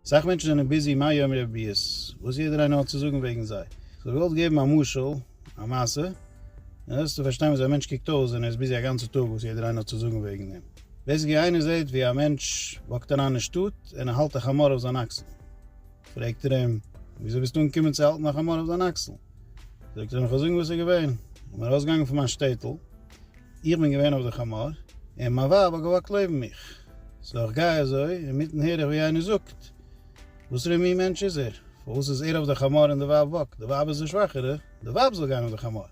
סאך מענטשן זענען ביזי מה יאמרו הביאות וואס יעדער איינער האט צו זאגן וועגן זיי. כ'וועל געוואלט געבן א משל, א מעשה, און וועסטו פארשטיין וויאזוי א מענטש קוקט אויס ווען ער איז ביזי א גאנצע טאג וואס יעדער איינער האט צו זאגן וועגן אים. בעיסיקלי איינער זעט ווי א מענטש וואקט אריין אין שטאט און ער האלט א חמור אויף זיין אקסל. פרעגט ער אים, וויאזוי ביסטו אנגעקומען צו האלטן א חמור אויף דיין אקסל? זאגט ער אים, כ'וועל זאגן וואס איז געווען. איך בין ארויסגעגאנגען פון מיין שטעטל, איך בין געווען אויף די חמור, און מיין ווייב האט געוואקט לעבן מיך. סאו איך גיי אזוי, אינמיטן הער איך ווי איינער זאגט, וואס פאר א מין מענטש איז ער? פארוואס איז ער אויף די חמור און די ווייב וואקט? די ווייב איז די שוואכערע, די ווייב זאל גיין אויף די חמור.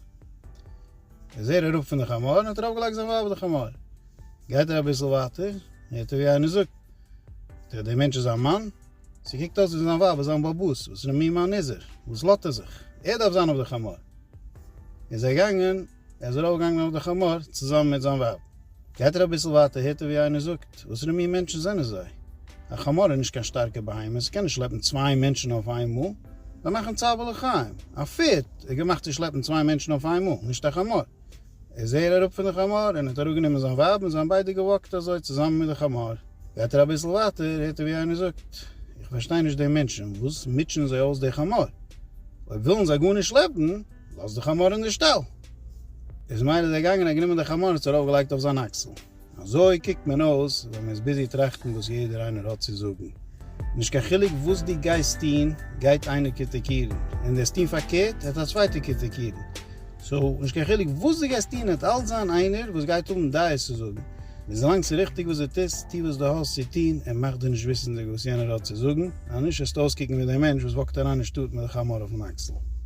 איז ער אראפ פון די חמור און האט ארויף געלייגט זיין ווייב אויף די חמור. גייט ער אביסל ווייטער, הערט ער ווי איינער זאגט, טא די מענטש איז א מאן? ס'קוקט אויס ווי זיין ווייב איז זיין באבוס, וואס פאר א מין מאן איז ער? וואס לאזט ער זיך? ער דארף זיין אויף די חמור. איז ער געגאנגען. ער איז ארויפגעגאנגען אויף די חמור צוזאמען מיט זיין ווייב. גייט ער אביסל ווייטער הערט ער ווי איינער זאגט, וואסערע מין מענטשן זענען זיי? א חמור איז נישט קיין שטארקע בהמה, ס'קען נישט שלעפן צוויי מענטשן אויף איין מאל. זיי מאכן צער בעלי חיים. א פערד איז געמאכט צו שלעפן צוויי מענטשן אויף איין מאל, נישט א חמור. איז ער אראפ פון די חמור און האט אראפגענומען זיין ווייב און זיי האבן ביידע געוואקט אזוי צוזאמען מיט די חמור. גייט ער אביסל ווייטער הערט ער ווי איינער זאגט, איך פארשטיי נישט די מענטשן, וואס מוטשען זיי אויס די חמור? אויב ווילן זיי גארנישט שלעפן, לאז די חמור אין די שטאל! איז מאיר איז דערגאנגען און גענומען די חמור און עס ארויף געלייגט אויף זיין אקסל. אזוי קוקט מען אויס ווען מען איז ביזי טראכטן וואס יעדער איינער האט צו זאגן. נישט קיין חילוק וואס דו גייסט טון גייט איינער קריטיקירן, און וועסט טון פארקערט העט א צווייטער קריטיקירן. סאו נישט קיין חילוק וואס דו גייסט טון העט אלץ זיין איינער וואס גייט האבן דעות צו זאגן. וויזלאנג ס'איז ריכטיג וואס דו טוסט, טו וואס דו האסט צו טון און מאך דיר נישט וויסנדיג וואס יענער האט צו זאגן, אנישט וועסטו אויסקוקן ווי דער מענטש וואס וואקט אריין אין שטאט מיט די חמור אויפן אקסל.